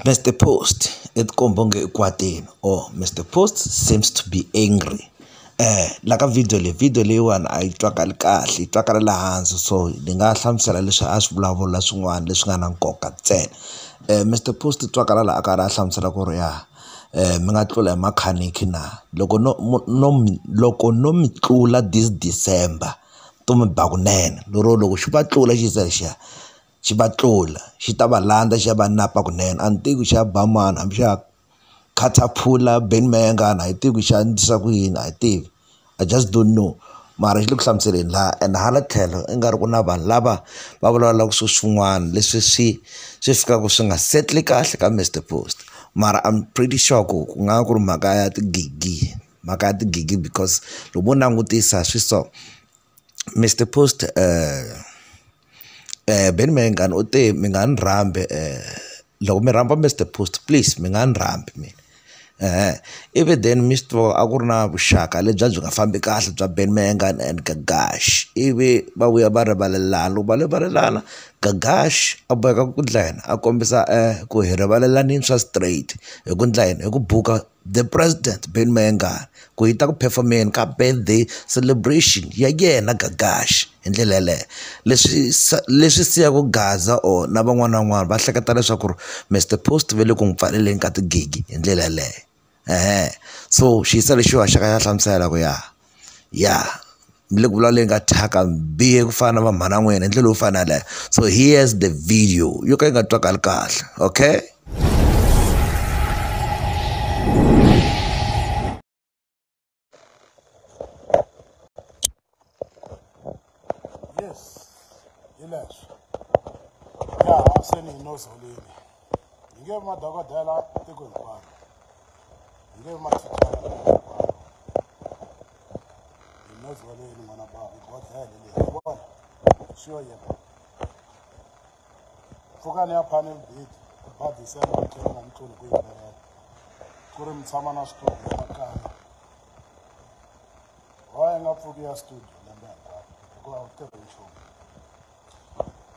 Mr. Post, it kombonge ikwatini. Oh, Mr. Post seems to be angry. Eh, la ka video leyi video leyiwani a yi twakali kahle yi twakala le hansi so ni nga hlamusela leswi a swi vulavula swin'wana leswi nga na nkoka ntsena Mister Post u twakala laha a karhi a hlamusela ku ri ya mi nga tlula hi makhaniki na loko no no loko no mi tlula this December. to mi ba kunene lero loko xi va tlula xi za xi ya xi va tlula xi ta va landza xi ya va napa kunene a ni tivi ku xa ba mani hambi xa khathaphula Benny Mayengani a hi tivi ku xa endlisa ku yini a hi tivi I just don't know mara xi le ku hlamuseleni laha and hala tlhelo i nga ri ku na vanhu lava va vulavulaka swilo swin'wana leswi swi swi fikaka swi nga settle kahle ka Mister Post mara I'm pretty sure ku ku nga va ku ri mhaka ya tigigi. mhaka ya tigigi because loko mo langutisa swi so Mister Post Benny Mayengani u te mi nga ni rhambi loko mi rhamba Mister Post please mi nga ni rhambi mina ivi then mi swi tiva a ku ri na vuxaka lebyi a byi nga fambi kahle bya Benny Mayengani and Gagash ivi va vuya va rivalelana loko va rivalelana Gagash a boheka ku endla yini a kombisa ku hi rivalelanini swa straight hi ku endla yini hi ku buka. The President Benny Mayengani ku hi ta ku perform-eni ka birthday celebration ya yena Gagash hi ndlela yaleyo leswi leswi siyaku Gaza or na van'wana na van'wana va hleketa leswaku ri Mister Post ve le ku n'wi pfaleleni ka tigigi hi ndlela yaleyo so xiyisa lexiwa xa ka ya hlamusela ku ya. ya mi le ku vulavuleni ka thyaka mi bihe ku fana na va mhana n'wina hi ndlela yo fana yaleyo so here's the video yo ka yi nga twakali kahle okay Yes. Hilash. Ya se ni no zolini. Hi nge madokodela tiko hinkwaro. Hi nge mathicara tiko hinkwaro. Hi no zolini n'wana bava bodlele leyi. Vona. Sure yena. Pfukani ya panel beat. Badisa ya muthenga na mutulu ku yimbelela. Ku ri mi tshama na switori swa kaya. why nga pfuki ya studio lembe hinkwaro hikuva u tirhi nchumu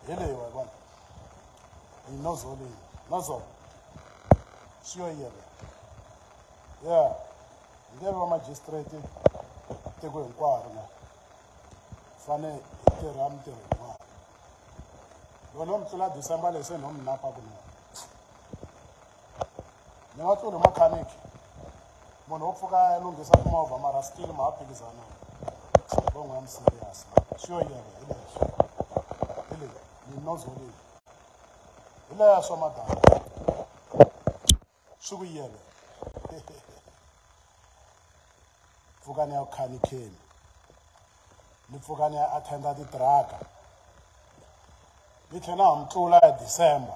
hi leyi wa vona yi nozo leyi nozo swi yo yele ya hi nge va magistrate tiko hinkwaro na fane hi tirha mintirho yin'wana loko no mi tlula december leyi se no mi napa kunene ni nga tluli mechanic munhu wo pfuka ya lunghisa timovha mara still ma ha phikizana bongo ya miserious swi yo yena hi leswi hi leyi ni nozo leyi hi leya swa madana swi ku yele pfukani ya khanikheni ni pfukani ya attenda titiraka ni tlhela na ha mi tlula ya december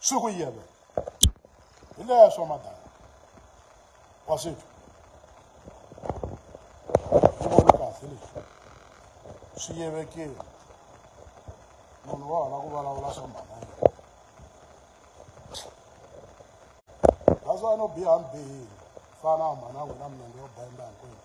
swi ku yelwe hi leswo madala wa swi twa swi vona kahle leswi swi yevekile munhu wa hona ku vulavula swa mhana that's why no biha mbihile fana mhana wena minenge yo benda hinkwenu